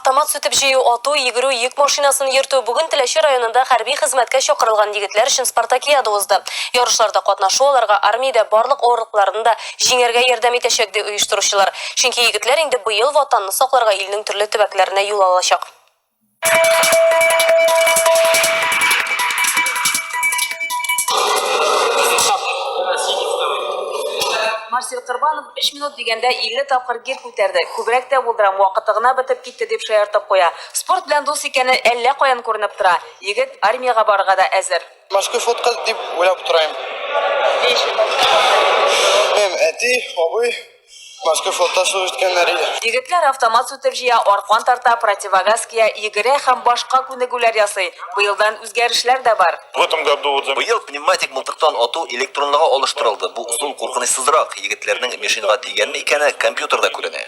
Автомат сүтеп җыю, ату, йөгерү, йөк машинасын йөртү бүген Теләче районында хәрби хезмәткә чакырылган егетләр өчен спартакиада узды. Ярышларда катнашу аларга армиядә барлык авырлыкларны да җиңәргә ярдәм итәчәк, ди оештыручылар. Чөнки егетләр инде быел Ватанны сакларга илнең төрле төбәкләренә юл алачак. Марсель Кырбанов 3 минут дигәндә 50 тапкыр гер күтәрде. Күбрәк тә булдырам, вакыты гына бетеп китте дип шаяртып куя. Спорт белән дус икәне әллә каян күренеп тора. Егет армиягә барырга да әзер. Морской флотка дип уйлап утырам. Һәм әти, абый Башка флотта служба иткәннәр иде. Егетләр автомат сүтеп җыя, аркан тарта, противогаз кия, йөгерә һәм башка күнегүләр ясый. Быелдан үзгәрешләр дә бар. В этом году вот за. Быел пневматик мылтыктан ату электронлыга алыштырылды. Бу ысул куркынычсызрак. Егетләрнең мишеньга тигәнме икәне компьютерда күренә.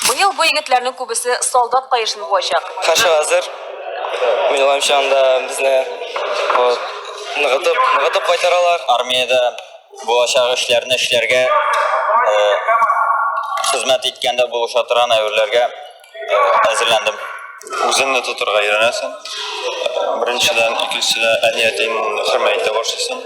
Быел бу егетләрнең күбесе солдат каешын буачак. Һәрчак әзер. Минем уемча, анда безне ныгытып, ныгытып кайтаралар. Армиядә. Булачак эшләрне эшләргә хезмәт иткәндә булыша торган әйберләргә әзерләндем. Үзеңне тотырга өйрәнәсең. Беренчедән, икенчедән, әниятен хөрмәйтә башлыйсың.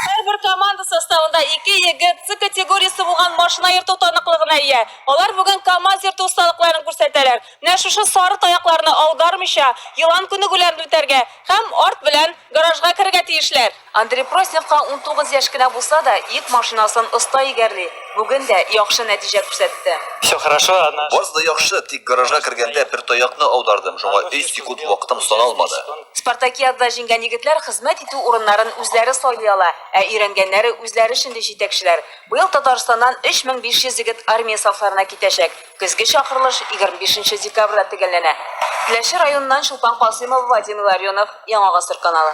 Һәрбер команда составында ике егет С категориясе булган машина йөртү таныклыгына ия. Алар бүген КАМАЗ йөртү осталыкларын күрсәтәләр. Менә шушы сары таякларны аудармыйча, елан күнегүләрен үтәргә һәм арт белән гаражга керергә тиешләр. Андрей Просниковка унтугыз яшь кенә булса да, йөк машинасын оста егәрли, бүген дә яхшы нәтиҗә күрсәтте. Всё хорошо, она. Барысы да яхшы, тик гаражга кергәндә бер таякны аудардым, шуңа өч секунд вакытым саналмады. Спартакиадада җиңгән егетләр хезмәт итү урыннарын үзләре сайлый ала, ә өйрәнгәннәре үзләре шендый җитәкчеләр. Быел Татарстаннан 3500 егет армия сафларына китәчәк. Көзге чакырылыш егерме бишенче декабрьдә төгәлләнә. Теләче районыннан Чулпан Касыймова, Вадим Илларионов, Яңа Гасыр каналы.